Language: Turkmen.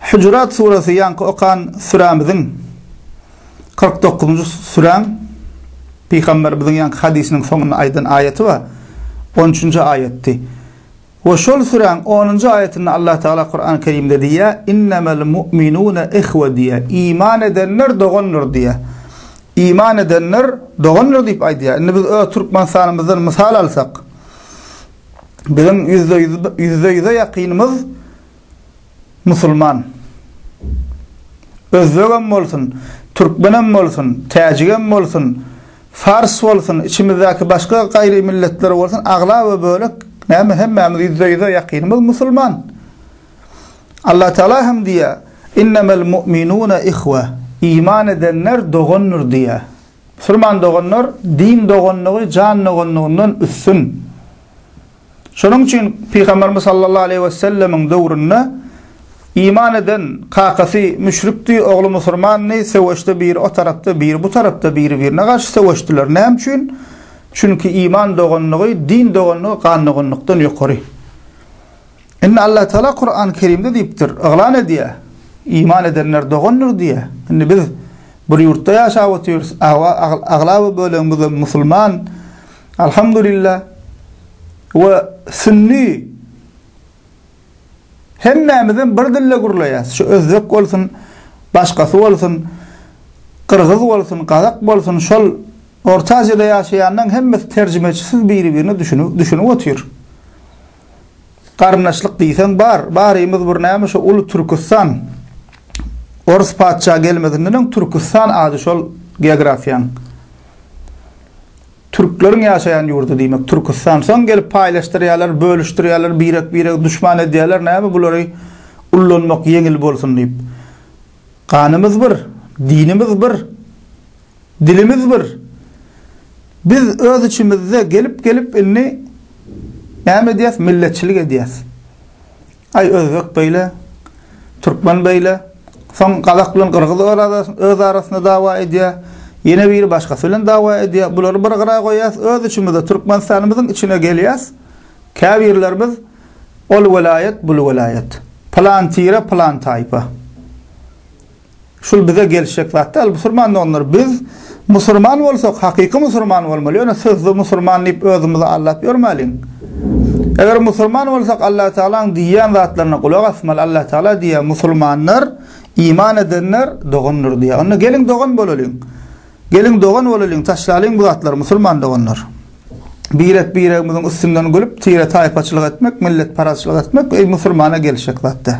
Hujurat suresi ýaňky okan sürämiziň kyrk dokuzynjy süräň Pygamberimiziň ýaňky hadysynyň soňunda aýdan aýaty bar, on üçünji aýatdy. We şol süräň onunjy aýatynda Allah Tagala Kurany Kerimde diýýär, Innemel mu'minune ihwe diýýär. Iman edenler dogandyr diýýär. Iman edenler dogandyr diýip aýdýar. Indi biz öz Türkmenistanymyzdan mysal alsak, biziň ýüzde ýüz, ýüzde ýüze ýakynymyz musulman. Özbegem bolsun, türkmenem bolsun, täjigem bolsun, fars bolsun, içimizdäki başga gaýry milletler bolsun, aglaba bölek näme hemmämiz ýüzde ýüze ýakynymyz musulman. Allatagala hem diýýär, Innemel mu'minune ihwe, iman edenler dogandyr diýýär. Musulman doganlar din doganlygy jan doganlygyndan üstün. Şonuň üçin Pygamberimiz sallallahu aleýhi wesellemiň döwründe iman eden kakasy müşrikdi, ogly musurmandy, söweşde biri o tarapda, biri bu tarapda, biri birine garşy söweşdiler. Näme üçin? Çünki iman doganlygy, din doganlygy gan doganlykdan ýokary. Indi Allah Taala Kurany Kerimde diýipdir, yglan edýär. Iman edenler dogandyr diýýär. Indi biz bir ýurtda ýaşap otyrys, awa aglaba bölegimiz musulman, Alhamdulillah we sünni hemmämizem bir dilde gürleýäs. Şu özbek bolsun, başgasy bolsun, gyrgyz bolsun, gazak bolsun, şol Orta Aziýada ýaşaýanlaryň hemmesi terjimeçisiz biri-birine düşünip, düşünip otyr. Garyndaşlyk diýseň bar, barymyz bir näme şu uly Türkistan. Orus patyşa gelmezinden öň Türkistan ady şol geografiýanyň. Türkleriň ýaşaýan ýurdy diýmek Türküstan. Soň gelip paýlaşdyrýarlar, bölüşdirýärler, birek-biregi duşman edýärler, näme bulary ullanmak ýeňil bolsun diýip. Ganymyz bir, dinimiz bir, dilimiz bir. Biz öz içimizde gelip-gelip indi näme edýäs, milletçilik edýäs. Aý özbek beýle, türkmen beýle, soň gazak bilen gyrgyz öz arasynda dawa edýär, ýene biri başgasy bilen dawa edýär. Bulary bir gyra goýýas, öz içimizde Türkmenistanymyzyň içine gelýäs, käbirlerimiz ol welaýat, bul welaýat, pylan tire, pylan taýpa. Şul bize gelişjek zat däl musurman doganlar biz musurman bolsak hakyky musurman bolmaly ýöne sözde musurman diýip özümizi aldap ýörmäliň. Eger musurman bolsak Allah Tagalaň diýýän zatlaryna gulak asmaly Allah Tagala diýýär musulmanlar iman edenler dogandyr diýýär. Onda geliň dogan bolalyň. Geliň dogan bolalyň taşlalyň bu zatlary musurman doganlar. Birek biregimiziň üstünden gülüp tire taýpaçylyk etmek milletparazçylyk etmek eý musurmana gelişjek zat däl.